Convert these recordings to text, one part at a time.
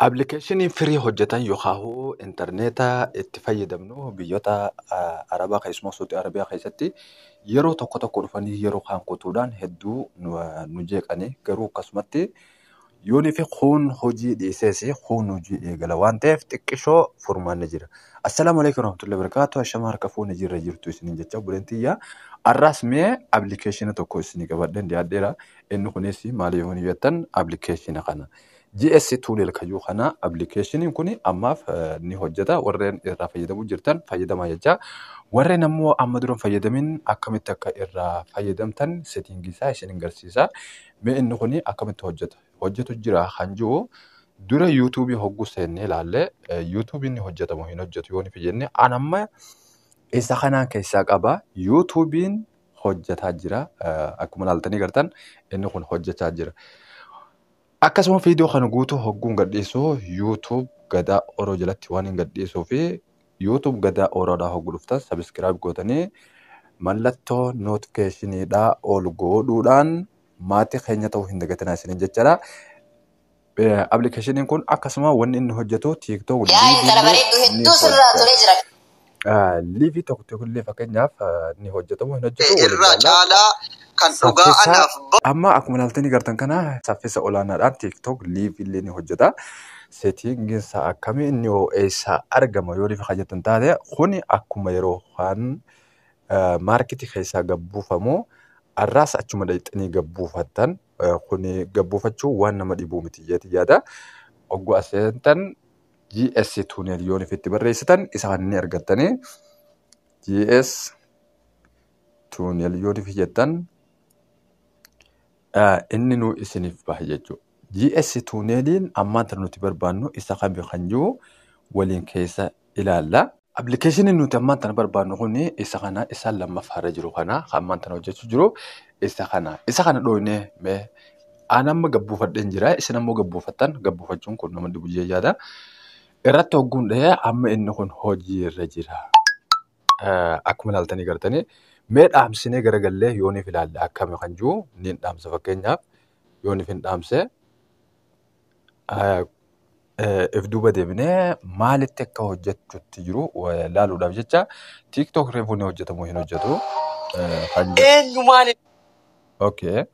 Appilikeeshinii firii hojjetan yookaahuu intarneeta itti fayyadamnu biyyoota ah, Arabaa keessumaa Suudi Arabiyaa keessatti yeroo tokko tokko dhufanii yeroo kaan kutuudhaan hedduu nu, nu jeeqanii garuu akkasumatti yoonii fi kuun hojii dhiisees kuun hojii eegala waan ta'eef xiqqishoo furmaanni jira. Assalaamu alaikum warahmatullahi wabarakatuh ashama harka fuuni jirra jirtu isiniin jecha obboleen tiyya arraas mee appilikeeshina tokko isinii qabadheen dhiyaadheera inni kunis maali yoon jettan appilikeeshina kana GS Tunnel kayyuu kana appilikeeshiniin kun ammaaf ni hojjeta warreen irraa fayyadamuu jirtan fayyadamaa jechaa warreen ammoo amma duran fayyadamin akkamitti akka irraa fayyadamtan seetingii isaa isin garsiisa mee inni kun akkamitti hojjeta hojjetu jira kan jiru dura yuutuubii hogguu seennee ilaalle yuutuubiin ni hojjetamu hin hojjetu yoo nufi jenne an amma isa kanaan keessaa qaba yuutuubiin hojjetaa jira akkuma ilaaltanii gartan inni kun hojjechaa jira. Akkasuma viidiyoo kana guutuu hogguun gadhiisu YouTube Gadaa Oro jalatti waan hin gadhiisuu fi YouTube Gadaa Oroodhaa hoggu dhuftan sabiskiraayib gootanii mallattoo nootikeeshiniidhaa ol goodhuudhaan maatii keenya ta'uu hin dagatinaa isiniin jechaadha. Appilikeeshiniin kun akkasuma wanni inni hojjetu TikTok, Yaa intala bareeddu hedduu sirraa tolee jira. Liivii tokko tokkollee fakkeenyaaf ni hojjetamu hin hojjetu waliin irraa ilaalla. caalaa kan dhugaa Saffisa anaaf ba'u amma akkuma ilaaltanii gartan kana saffisa olaanaadhaan TikTok live illee ni hojjeta. Settingiin isaa akkami inni hoo eessaa argama yoo rifa jettan taate kuni akkuma yeroo kan maarketii keessaa gabbuufamu arraas achuma dhaqxanii gabbuufattan kuni gabbuufachuu waan nama dhibuu miti jeeti yaada. Ogguu as seentan GS tunnel yoon ifitti barreessitan isaan ni argattanii GS tunnel yoon ifi jettan inni nu isiniif baha jechuudha. GS tunneliin ammaanta nuti barbaannu isa kami kan jiru waliin keessa ilaalla. Appilikeeshinii nuti ammaan tana barbaadnu kun isa kana isa lammaffaa irra jiru kana kan ammaan tana hojjechuu jiru isa kana isa kana dhooynee mee aan amma gabbuufadheen jira isin ammoo gabbuufattan gabbuufachuun kun nama dhibu jee yaada irratti hogguun dhahee amma inni kun hojii irra jira Eh, akkuma ilaaltanii gartanii mee dhaamsinee garagallee yooniif ilaalle akkami kan jiru niin dhaamsa fakkeenyaaf yooniif hin dhaamse if duuba deebinee maalitti akka hojjechutti jiru laaluudhaaf jecha TikTok reefuu ni hojjetamu hin hojjetu. Eenyu maali? Okay.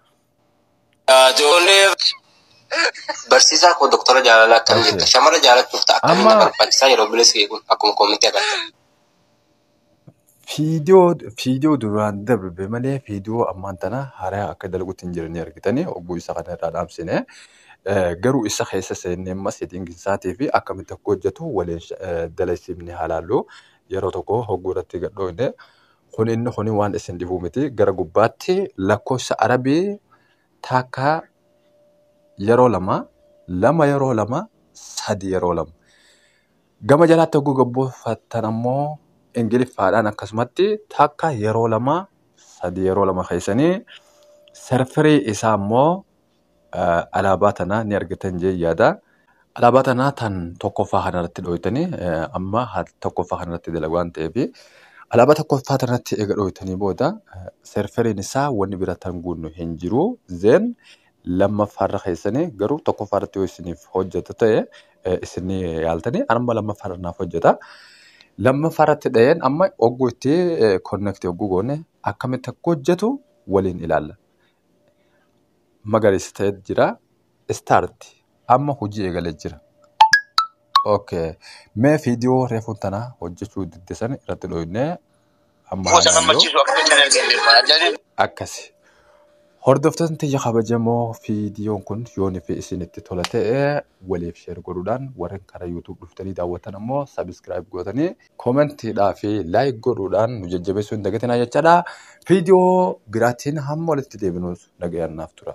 Barsiisaa koo doktora jaalalaa akkam jirta? Shamara jaalachuuf ta'a. Akkamiin na barbaachisaa yeroo bilis kee kun akkuma koomitti agarta. Fiidiyoo fiidiyoo duraan darbe malee fiidiyoo ammaan tana haaraa akka dalgutti hin jiranii argitanii hogguu isa kana irraa dhaamsine garuu isa keessa seennee amma seetiin isaatii fi akkamitti akka hojjetu waliin dalagsifni haalaallu yeroo tokko hogguu irratti gadhoofne kun inni kun waan isin dhibuu miti gara gubbaatti lakkoofsa arabii taakka yeroo lama lama yeroo lama sadi yeroo lama. Gama jalaatti hogguu gabbuufattan ammoo ingiliffaadhaan akkasumatti takka yeroo lama sadii yeroo lama keessanii serfirii isaa ammoo alaabaa tana ni argitan jee yaada. Alaabaa tana tan tokkoffaa kanarratti dhooytanii amma tokkoffaa kanarratti dalagu waan ta'eef alaabaa tokkoffaa tanatti eega dhooytanii booda serfiriin isaa wanni bira tan guunnu hin jiru zeen lammaffaarra keessanii garuu tokkoffaarratti yoo isiniif hojjetu ta'e eh, isin ni yaaltanii amma lammaffaarra naaf hojjeta. Lammaffaarratti dhaheen amma ogguu itti konnekti ogguu goone akkamitti akka hojjetu waliin ilaalla. Magariisa ta'ee jira. Istaarti amma hojii eegalee jira. Okay. Mee viidiyoo reefuun tanaa hojjechuu diddesan irratti dhooyne Amma Gosa haalayyoo gammachiisu akka gocha hin argine beekama. Ajaa'ibni akkasi. Hordoftoonni tiyya kabajamoo viidiyoon kun yoon fi isinitti tola ta'e waliif sheer godhuudhaan warreen karaa YouTube dhuftanii daawwatan ammoo sabiskiraayib gootanii koomentiidhaa fi laayik godhuudhaan nu jajjabeessuu hin dagatinaa jechaadha. Viidiyoo biraatiin hamma walitti deebinuus nagayaan naaf tura.